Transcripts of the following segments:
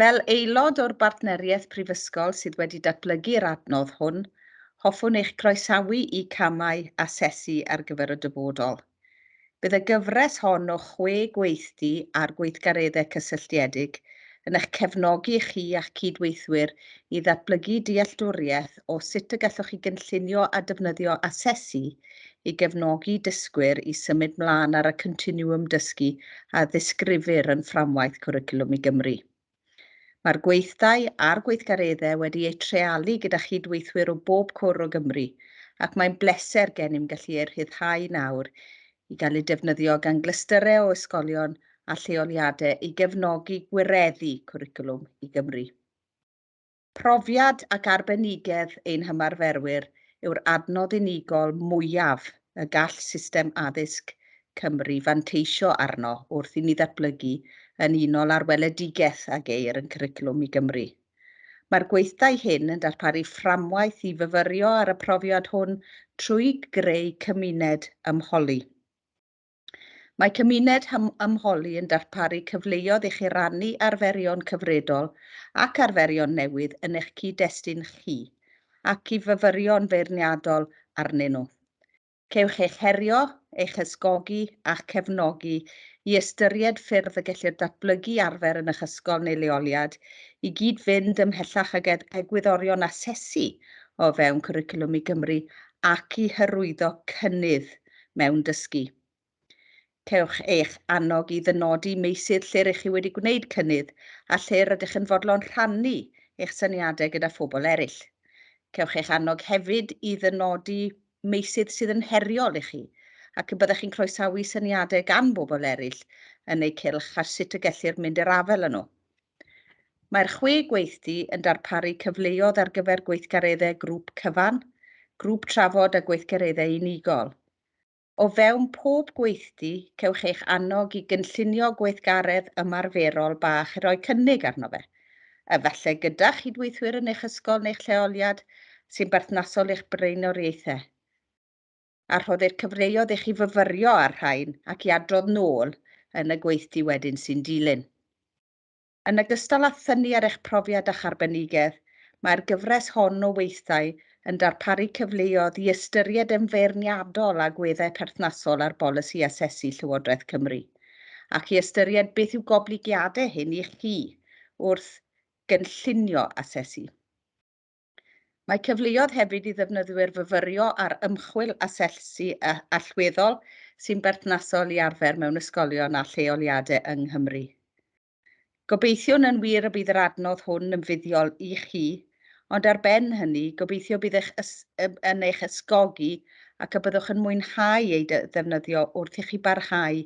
Fel aelod o'r Bartneriaeth Prifysgol sydd wedi datblygu'r adnodd hwn, hoffwn eich croesawu i Camau Asesu ar gyfer y Dyfodol. Bydd y gyfres hon o chwe gweithdy ar gweithgareddau cysylltiedig yn eich cefnogi chi a'ch cyd-weithwyr i ddatblygu dealltwriaeth o sut y gallwch chi gynllunio a defnyddio asesu i gefnogi dysgwyr i symud mlaen ar y continwwm dysgu a ddisgrifir yn Fframwaith Cwricwlwm i Gymru. Mae'r gweithdai a'r gweithgareddau wedi eu treialu gyda chyd-weithwyr o bob cwr o Gymru ac mae'n bleser gennym gallu eu rhyddhau nawr i gael eu defnyddio gan glystyrau o ysgolion a lleoliadau i gefnogi gwireddu cwricwlwm i Gymru. Profiad ac arbenigedd ein hymarferwyr yw'r adnodd unigol mwyaf y gall system addysg Cymru fanteisio arno wrth i ni ddatblygu yn unol â'r weledigaeth a geir yn Cwricwlwm i Gymru. Mae'r gweithdai hyn yn darparu fframwaith i fyfyrio ar y profiad hwn trwy greu cymuned ymholi. Mae Cymuned Ymholi yn darparu cyfleoedd i chi rannu arferion cyfredol ac arferion newydd yn eich cyd-destun chi ac i fyfyrio'n feirniadol arnyn nhw. Cewch eich herio, eich ysgogi a'ch cefnogi i ystyried ffyrdd y gellir datblygu arfer yn eich ysgol neu leoliad i gyd-fynd ymhellach ag egwyddorion asesu o fewn Cwricwlwm i Gymru ac i hyrwyddo cynnydd mewn dysgu. Cewch eich annog i ddynodi meysydd lle rydych chi wedi gwneud cynnydd a lle rydych yn fodlon rhannu eich syniadau gyda phobl eraill. Cewch eich annog hefyd i ddynodi meysydd sydd yn heriol i chi ac y byddech chi'n croesawu syniadau gan bobl eraill yn eu cylch ar sut y gellir mynd i'r afael â nhw. Mae'r chwe gweithdy yn darparu cyfleodd ar gyfer gweithgareddau grŵp cyfan, grŵp trafod a gweithgareddau unigol. O fewn pob gweithdy, cewch eich annog i gynllunio gweithgaredd ymarferol bach i roi cynnig arno fe, efallai gyda chydweithwyr yn eich ysgol neu'ch lleoliad, sy'n berthnasol i'ch blaenoriaethau. a rhoddir cyfleodd i chi fyfyrio ar rhain ac i adrodd nôl yn y gweithdy wedyn sy'n dilyn. Yn ogystal â thynnu ar eich profiad a'ch arbenigedd, mae'r gyfres hon o weithdai yn darparu cyfleodd i ystyried yn feirniadol agweddau perthnasol ar bolisi asesu Llywodraeth Cymru, ac i ystyried beth yw goblygiadau hyn i chi wrth gynllunio asesu. Mae cyfleoedd hefyd i ddefnyddwyr fyfyrio ar ymchwil a sellsi allweddol sy'n berthnasol i arfer mewn ysgolion a lleoliadau yng Nghymru. Gobeithiwn yn wir y bydd yr adnodd hwn yn fuddiol i chi, ond ar ben hynny, gobeithio bydd eich yn eich ysgogi ac y byddwch yn mwynhau ei ddefnyddio wrth i chi barhau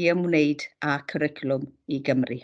i ymwneud â Cwricwlwm i Gymru.